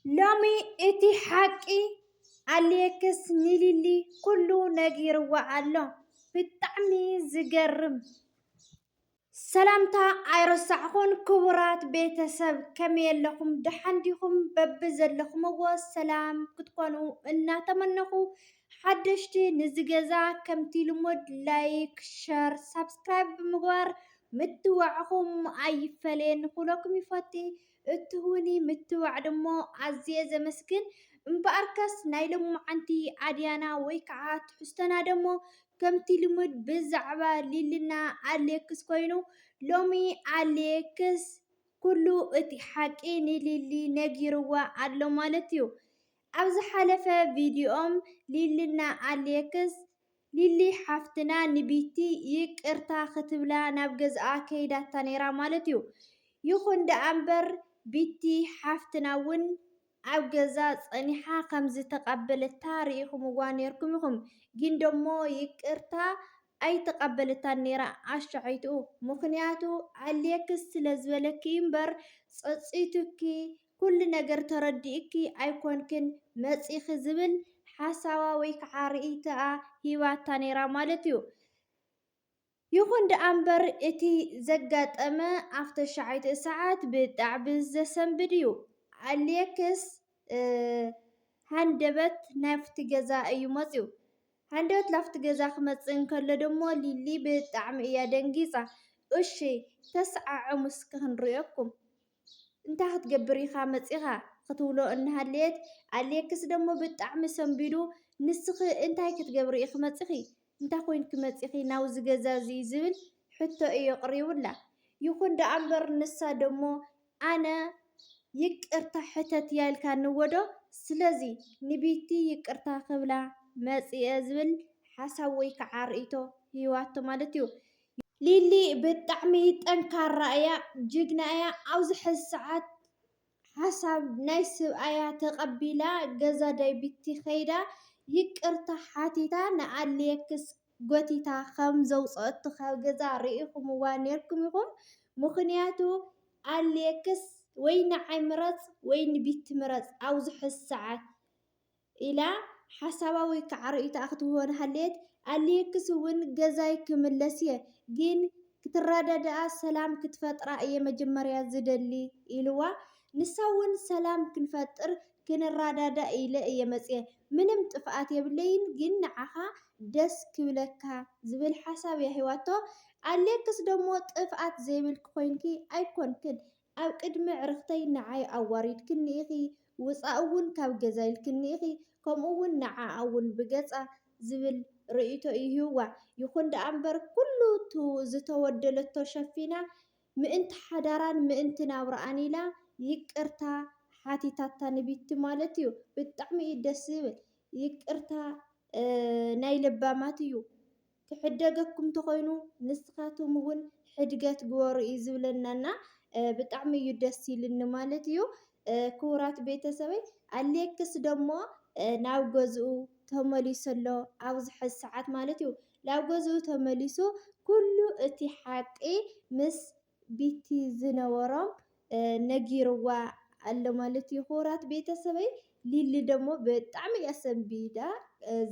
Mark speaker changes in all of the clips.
Speaker 1: ሎሚ እቲ ሓቂ ኣሌክስ ንሊሊ ኩሉ ነጊርዋ ኣሎ ብጣዕሚ ዝገርም። ሰላምታ ኣይረሳዕኹን ክቡራት ቤተሰብ ከመይ ኣለኹም ደሓን ዲኹም በብዘለኹምዎ ሰላም ክትኮኑ እናተመነኹ ሓደሽቲ ንዚ ገዛ ከምቲ ልሙድ ላይክ ሸር ሳብስክራይብ ብምግባር ምትብባዕኹም ኣይፈለየኒ ክብለኩም ይፈቲ እትህቡኒ ምትብባዕ ድማ ኣዝየ ዘመስግን። እምበኣርከስ ናይ ሎምዓንቲ ኣድያና ወይ ከኣ ትሕዝቶና ደሞ ከምቲ ልሙድ ብዛዕባ ሊልና ኣሌክስ ኮይኑ ሎሚ ኣሌክስ ኩሉ እቲ ሓቂ ንሊሊ ነጊርዋ ኣሎ ማለት እዩ። ኣብ ዝሓለፈ ቪድዮኦም ሊልና ኣሌክስ ሊሊ ሓፍትና ንቢቲ ይቅርታ ክትብላ ናብ ገዝኣ ከይዳታ ነይራ ማለት እዩ ይኩን ደኣ እምበር ቢቲ ሓፍትና ውን ኣብ ገዛ ጸኒሓ ከም ዝተቀበለታ ሪኢኩምዋ ነይርኩም ኢኩም ግን ደሞ ይቅርታ ኣይተቀበለታን ነይራ ኣሻዐይትኡ ምክንያቱ ኣሌክስ ስለ ዝበለኪ እዩ እምበር ጸጺቱኪ ኩሉ ነገር ተረዲኡኪ ኣይኮንክን መጺኺ ዝብል ሓሳባ ወይ ከዓ ርኢቶኣ ሂባታ ነይራ ማለት እዩ። ይኹን ደኣ እምበር እቲ ዘጋጠመ ኣብ ተሻዓይትኡ ሰዓት ብጣዕሚ ዘሰንብድ እዩ። ኣሌክስ ሃንደበት ናብቲ ገዛ እዩ መፂኡ። ሃንደበት ናብቲ ገዛ ክመፅእ እንከሎ ደሞ ሊሊ ብጣዕሚ እያ ደንጊፃ። እሺ ተሰዓዐሙ እስኪ ክንሪኦኩም። እንታይ ክትገብር ኢኻ መጺኻ ክትብሎ እናሃለየት፣ ኣሌክስ ደሞ ብጣዕሚ ሰንቢዱ፣ ንስኺ እንታይ ክትገብሪ ኢኺ መጺኺ? እንታይ ኮይንኪ መጺኺ ናብዚ ገዛ እዚ? ዝብል ሕቶ እዩ ኣቕሪቡላ። ይኹን ደኣ እምበር ንሳ ደሞ ኣነ ይቅርታ ሕተትያ ኢልካኒዎዶ? ስለዚ ንቢቲ ይቅርታ ክብላ መጺኤ ዝብል ሓሳብ ወይ ከዓ ርእይቶ ሂባቶ ማለት እዩ። ሊሊ ብጣዕሚ ጠንካራ እያ ጅግና እያ ኣብዚ ሕዚ ሰዓት ሓሳብ ናይ ስብኣያ ተቀቢላ ገዛ ዳይቢቲ ከይዳ ይቅርታ ሓቲታ ንኣሌክስ ጎቲታ ከም ዘውፀኣቶ ካብ ገዛ ሪኢኩምዋ ነይርኩም ኢኩም ምክንያቱ ኣሌክስ ወይ ንዓይ ምረፅ ወይ ንቢቲ ምረፅ ኣብዚ ሕዚ ሰዓት ኢላ ሓሳባ ወይ ክዓ ርእይቶኣ ክትህቦ እንሃለየት ኣልየክስ እውን ገዛይ ክምለስ እየ ግን ክትረዳድኣ ሰላም ክትፈጥራ እየ መጀመርያ ዝደሊ ኢልዋ ንሳ እውን ሰላም ክንፈጥር ክንራዳዳእ ኢለ እየ መፅየ ምንም ጥፍኣት የብለይን ግን ንዓኻ ደስ ክብለካ ዝብል ሓሳብ እያ ሂባቶ ኣልየክስ ደሞ ጥፍኣት ዘይብልኪ ኮይንኪ ኣይኮንክን ኣብ ቅድሚ ኣዕርኽተይ ንዓይ ኣዋሪድክኒ ኢኺ፣ ውጻእ'ውን ካብ ገዛ ኢልክኒ ኢኺ፣ ከምኡ'ውን ንዓኣ'ውን ብገጻ ዝብል ርእይቶ እዩ ሂቡዋ። ይኹን ደኣ'ምበር ኩሉ እቲ ዝተወደለቶ ሸፊና፣ ምእንቲ ሓዳራን ምእንቲ ናብራኣን ኢላ ይቅርታ ሓቲታታ ንቢቲ ማለት እዩ። ብጣዕሚ እዩ ደስ ዝብል። ይቅርታ ናይ ለባማት እዩ። ክሕደገኩም ተኾይኑ ንስኻቶም እውን ሕድገት ግበሩ እዩ ዝብለና እና ብጣዕሚ እዩ ደስ ኢልኒ ማለት እዩ። ክቡራት ቤተሰበይ ኣሌክስ ደሞ ናብ ገዝኡ ተመሊሱ ኣሎ ኣብዚ ሕዚ ሰዓት ማለት እዩ። ናብ ገዝኡ ተመሊሱ ኩሉ እቲ ሓቂ ምስ ቢቲ ዝነበሮም ነጊርዋ ኣሎ ማለት እዩ ክቡራት ቤተሰበይ ሊሊ ደሞ ብጣዕሚ እያ ሰንቢዳ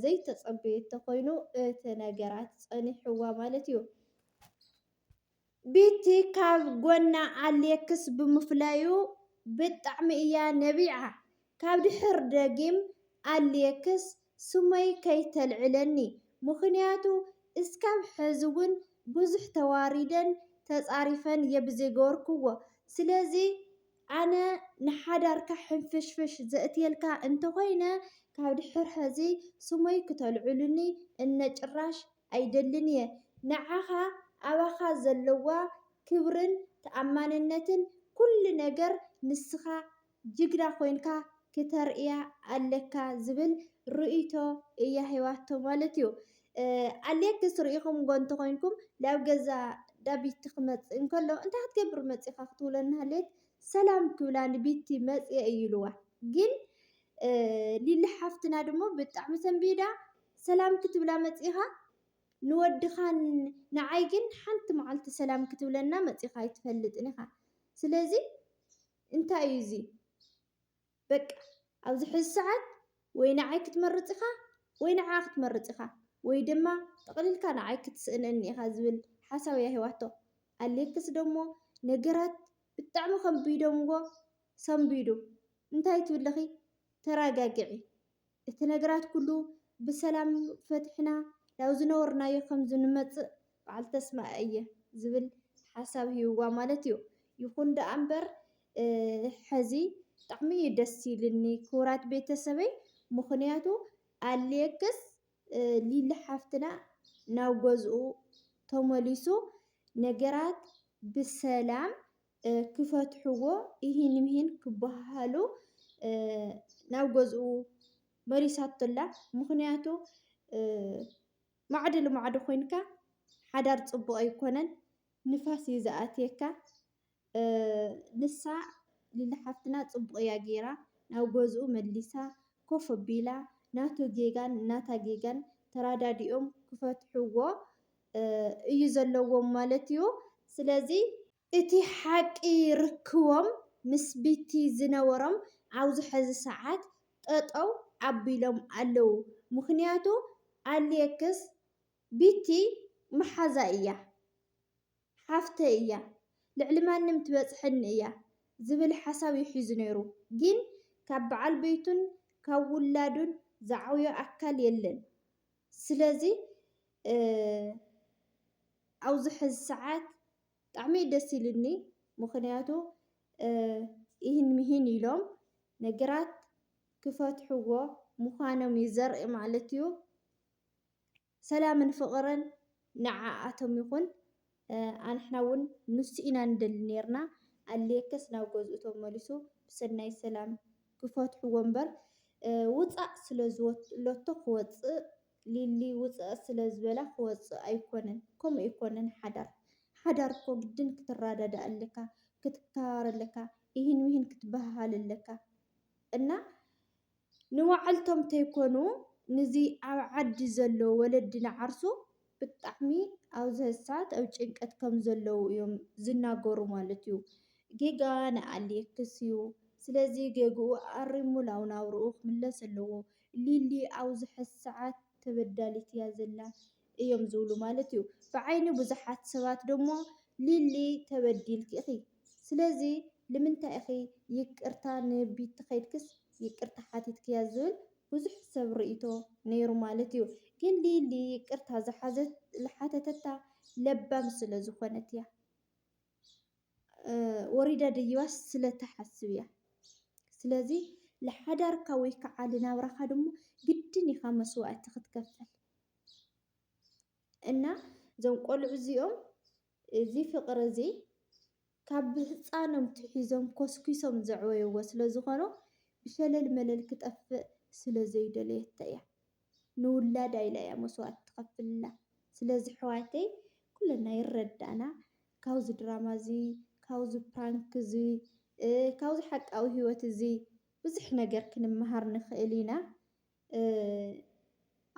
Speaker 1: ዘይተጸበየቶ ኮይኑ እቲ ነገራት ጸኒሕዋ ማለት እዩ ቢቲ ካብ ጎና ኣሌክስ ብምፍላዩ ብጣዕሚ እያ ነቢዓ። ካብ ድሕር ደጊም ኣልየክስ ስመይ ከይተልዕለኒ ምኽንያቱ እስካብ ሐዚ ውን ብዙሕ ተዋሪደን ተፃሪፈን እየ ብዘይገበርክዎ ስለዚ ኣነ ንሓዳርካ ሕንፍሽፍሽ ዘእትየልካ እንተኾይነ ካብ ድሕር ሐዚ ስመይ ክተልዕሉኒ እነ ጭራሽ ኣይደልን እየ ንዓኻ ኣባኻ ዘለዋ ክብርን ተኣማንነትን ኩሉ ነገር ንስኻ ጅግና ኮይንካ ክተርእያ ኣለካ ዝብል ርእይቶ እያ ሂባቶ ማለት እዩ። ኣሌክስ ርኢኹምዎ እንተኾይንኩም ናብ ገዛ ቢቲ ክመፅእ እንከሎ እንታይ ክትገብሪ መፂእኻ ክትብሎ እናሃለየት ሰላም ክብላ ንቢቲ መፂኤ እዩ ኢልዋ ግን ሊሊ ሓፍትና ድሞ ብጣዕሚ ሰንቢዳ ሰላም ክትብላ መፂኻ ንወድኻን ንዓይ ግን ሓንቲ መዓልቲ ሰላም ክትብለና መፂኻ ኣይትፈልጥን ኢኻ ስለዚ እንታይ እዩ እዚ በቃ ኣብዚ ሕዚ ሰዓት ወይ ንዓይ ክትመርጽ ኢኻ ወይ ንዓኣ ክትመርጽ ኢኻ ወይ ድማ ጠቕሊልካ ንዓይ ክትስእነኒ ኢኻ ዝብል ሓሳብ እያ ሂባቶ። ኣሌክስ ደሞ ነገራት ብጣዕሚ ከቢዶምዎ ሰንቢዱ እንታይ ትብልኺ ተራጋግዒ እቲ ነገራት ኩሉ ብሰላም ፈትሕና ናብ ዝነበርናዮ ከም ዝንመጽእ በዓል ተስፋ እየ ዝብል ሓሳብ ሂብዋ ማለት እዩ። ይኹን ደኣ እምበር ሕዚ ብጣዕሚ እዩ ደስ ኢልኒ ክቡራት ቤተሰበይ ምኽንያቱ ኣሌክስ ሊሊ ሓፍትና ናብ ገዝኡ ተመሊሱ ነገራት ብሰላም ክፈትሕዎ ኢሂን ምሂን ክበሃሃሉ ናብ ገዝኡ መሊሳቶ'ላ። ምኽንያቱ ማዕዶ ልማዕዶ ኮይንካ ሓዳር ፅቡቕ ኣይኮነን ንፋስ እዩ ዝኣትየካ። ንሳ ሊሊ ሓፍትና ፅቡቕ እያ ገይራ ናብ ገዝኡ መሊሳ ኮፍ ኣቢላ ናቱ ጌጋን ናታ ጌጋን ተረዳዲኦም ክፈትሕዎ እዩ ዘለዎም ማለት እዩ። ስለዚ እቲ ሓቂ ርክቦም ምስ ቢቲ ዝነበሮም ኣብዚ ሐዚ ሰዓት ጠጠው ኣቢሎም ኣለው ምኽንያቱ ኣሌክስ ቢቲ መሓዛይ እያ ሓፍተይ እያ ልዕሊ ማንም ትበፅሐኒ እያ ዝብል ሓሳብ እዩ ሒዙ ነይሩ ግን ካብ በዓል ቤቱን ካብ ውላዱን ዝዓብዮ ኣካል የለን ስለዚ ኣብዚ ሐዚ ሰዓት ብጣዕሚ እዩ ደስ ኢሉኒ ምኽንያቱ ኢህን ምሂን ኢሎም ነገራት ክፈትሕዎ ምዃኖም እዩ ዘርኢ ማለት እዩ። ሰላምን ፍቕርን ንዓኣቶም ይኹን። ኣንሕና እውን ንሱ ኢና ንደሊ ነይርና። ኣልየከስ ናብ ገዝኡ ተመሊሱ ብሰናይ ሰላም ክፈትሕዎ እምበር ውፃእ ስለ ዝበለቶ ክወፅእ ሊሊ ውፀእ ስለ ዝበላ ክወፅእ ኣይኮነን ከምኡ ኣይኮነን ሓዳር ሓዳር እኮ ግድን ክትራዳዳእ ኣለካ ክትከባበር ኣለካ ኢሂን ሚሂን ክትበሃሃል ኣለካ እና ንባዕልቶም ተይኮኑ ንዚ ኣብ ዓዲ ዘሎ ወለዲ ንዓርሱ ብጣዕሚ ኣብዚ ሐዚ ሰዓት ኣብ ጭንቀት ከም ዘለዉ እዮም ዝናገሩ ማለት እዩ ጌጋ ንኣሌክስ እዩ ስለዚ ጌግኡ ኣሪሙ ናብ ናብርኡ ክምለስ ኣለዎ ሊሊ ኣብዙሐ ሰዓት ተበዳሊት እያ ዘላ እዮም ዝብሉ ማለት እዩ። ብዓይኒ ብዙሓት ሰባት ደሞ ሊሊ ተበዲልኪ ኢኺ ስለዚ ልምንታይ ኢኺ ይቅርታ ንቢቲ ከይድክስ ይቅርታ ሓቲትክያ ዝብል ብዙሕ ሰብ ርእይቶ ነይሩ ማለት እዩ። ግን ሊሊ ይቅርታ ዝሓተተታ ለባም ስለዝኾነት እያ። ወሪዳ ደይባስ ስለ ትሓስብ እያ። ስለዚ ልሓዳርካ ወይ ከዓ ልናብራኻ ድማ ግድን ኢኻ መስዋእቲ ክትከፍል እና እዞም ቆልዑ እዚኦም እዚ ፍቅሪ እዚ ካብ ብህፃኖም ትሒዞም ኮስኪሶም ዘዕበይዎ ስለ ዝኾኑ ብሸለል መለል ክጠፍእ ስለ ዘይደለየቶ እያ። ንውላዳ ኢላ እያ መስዋእቲ ትኸፍልላ ስለዚ ኣሕዋተይ ኩለና ይረዳእና ካብዚ ድራማ እዚ ካብዚ ፕራንክ እዚ ካብዚ ሓቃዊ ሂወት እዚ ብዙሕ ነገር ክንመሃር ንኽእል ኢና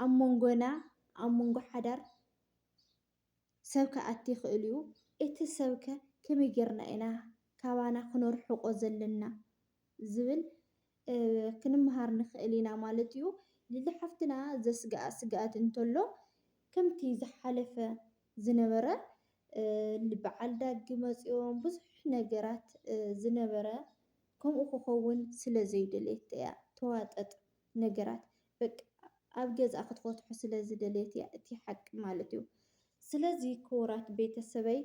Speaker 1: ኣብ መንጎና ኣብ መንጎ ሓዳር ሰብ ክኣቲ ይኽእል'ዩ። እቲ ሰብ'ከ ከመይ ጌርና ኢና ካባና ክነርሕቖ ዘለና ዝብል ክንመሃር ንኽእል ኢና ማለት'ዩ። ሊሊ ሓፍትና ዘስግኣ ስግኣት እንተሎ ከምቲ ዝሓለፈ ዝነበረ በዓል ዳጊ መጺኦም ብዙሕ ነገራት ዝነበረ ከምኡ ክኸውን ስለዘይደለየት'ያ ተዋጠጥ። ነገራት በቃ ኣብ ገዝኣ ክትፈትሖ ስለ ዝደለየት እያ እቲ ሓቂ ማለት እዩ። ስለዚ ክቡራት ቤተሰበይ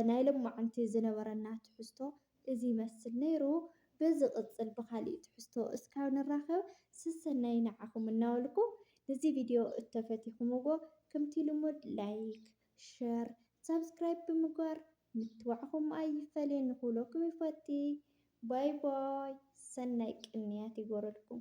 Speaker 1: ናይ ሎማዓንቲ ዝነበረና ትሕዝቶ እዚ ይመስል ነይሩ። ብዝቕፅል ብኻሊእ ትሕዝቶ እስካብ ንራኸብ ስሰናዩ ንዓኹም እናበልኩ ንዚ ቪድዮ እተፈቲኹምዎ ክምቲ ልሙድ ላይክ፣ ሸር፣ ሳብስክራይብ ብምግባር ምትባዕኹም ኣይፈለየኒ ክብለኩም ይፈቲ። ባይ ባይ ሰናይ ቅንያት ይግበረልኩም።